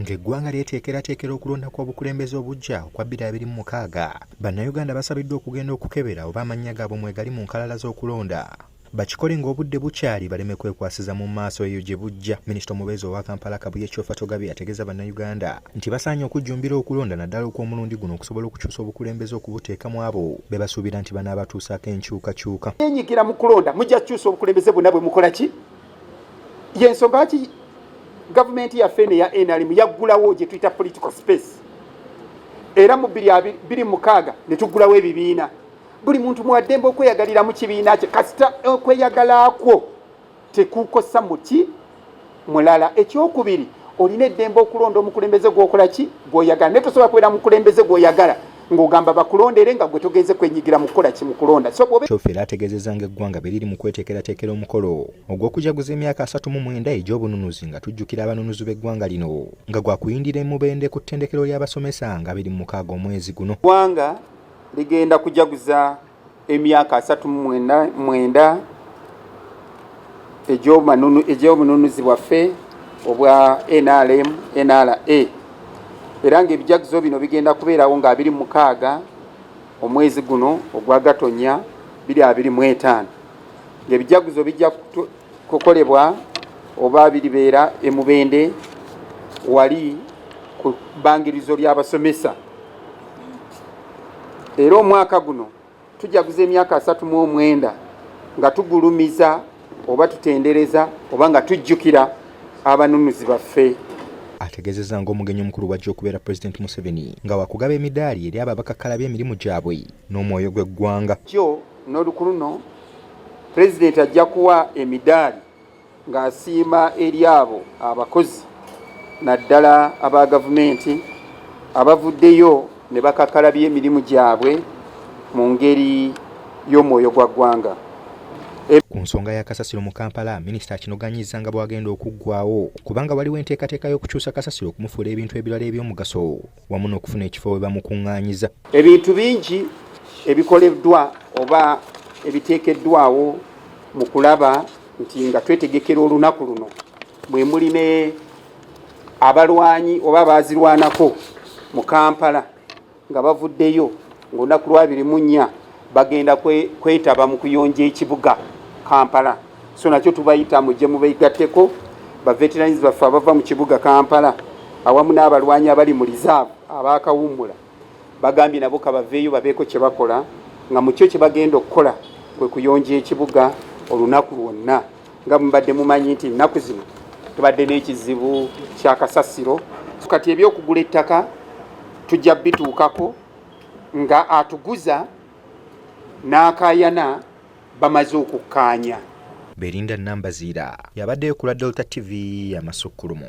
Ng'eggwanga lyeteekerateekera okulonda kw'obukulembeze obuggya okwa 2026, Bannayuganda basabiddwa okugenda okukebera oba amannya gaabwe mwegali mu nkalala z'okulonda. Bakikole ng'obudde bukyali baleme kwekwasiza mu maaso eyo gye bujja. Minisita omubeezi owa Kampala Kabuye Kyofatogabye ategeeza Bannayuganda nti basaanye okujjumbira okulonda naddala okw'omulundi guno okusobola okukyusa obukulembeze okubuteeka mu abo be basuubira nti banaabatuusaako enkyukakyuka. Yenyigira mu kulonda mujja kukyusa obukulembeze bwonna bwe mukola ki yensonga lwaki gavumenti yaffe eno eya nrm yaggulawo gye tuyita political space era mu biri mukaaga ne tuggulawo ebibiina buli muntu mwaddembe okweyagalira mu kibiina kye kasita okweyagala kwo tekukosa muki mulala ekyokubiri olina eddembe okulonda omukulembeze gwokola ki gwoyagala naye tosobola kubeera mukulembeze gwoyagala ng'ogamba bakulonda era nga gwe togenze kwenyigira mu kukola ki mu kulonda kyofe era ategeezezza ng'eggwanga bwe liri mu kweteekerateekera omukolo ogw'okujaguza emyaka asatu mu mwenda egy'obununuzi nga tujjukira abanunuzi b'eggwanga lino nga gwa kuyindira emubende ku ttendekero ly'abasomesa nga biri mu mukaaga omwezi guno ggwanga ligenda kujaguza emyaka asatu mu mwenda- mwenda egy'omanunu- egy'obununuzi bwaffe obwa nrm nra era ng'ebijaguzo bino bigenda kubeerawo nga 26 omwezi guno ogwa gatonya 2025 ng'ebijaguzo bijja kutu- kukolebwa oba biribeera e mubende wali ku bbangirizo ly'abasomesa era omwaka guno tujaguza emyaka asatu mu omwenda nga tugulumiza oba tutendereza oba nga tujjukira abanunuzi baffe ategezeza nga omugenyi omukulu wajja okubeera president museveni nga wakugaba emidaali eri abo abakakkalabya emirimu gyabwe n'omwoyo gw'eggwanga kyo n'oluku luno president ajja kuwa emidaali ng'asiima eri abo abakozi naddala aba gavumenti abavuddeyo ne bakakalabya emirimu gyabwe mu ngeri y'omwoyo gwa ggwanga Eh, ku nsonga ya kasasiro mu kampala minisita akinoganyiza nga bwagenda okuggwawo kubanga waliwo enteekateeka y'okukyusa kasasiro okumufuula ebintu ebirala eby'omugaso wamu n'okufuna ekifo we bamukuŋŋaanyiza. Ebintu bingi ebikoleddwa oba ebiteekeddwawo mu kulaba nti nga twetegekera olunaku luno mwe muli ne abalwanyi oba baazirwanako mu Kampala nga bavuddeyo ng'olunaku lwabiri mu nnya bagenda kwetaba mu kuyonja ekibuga Kampala. so nakyo tubayita mujje mubegatteko baveterans baffe abava mu kibuga kampala awamu n'abalwanyi abali mu reserve abaakawummula bagambye nabo kabaveeyo babeeko kye bakola nga mu kyo kye bagenda okukola kwe kuyonja ekibuga olunaku lwonna nga mubadde mumanyi nti ennaku zino tubadde n'ekizibu kya kasasiro kati ebyokugula ettaka tujja bituukako nga atuguza n'akayana bamaze okukkaanya. Berinda Nambaziira y'abaddeyo ku lwa Delta TV amasukkulumu.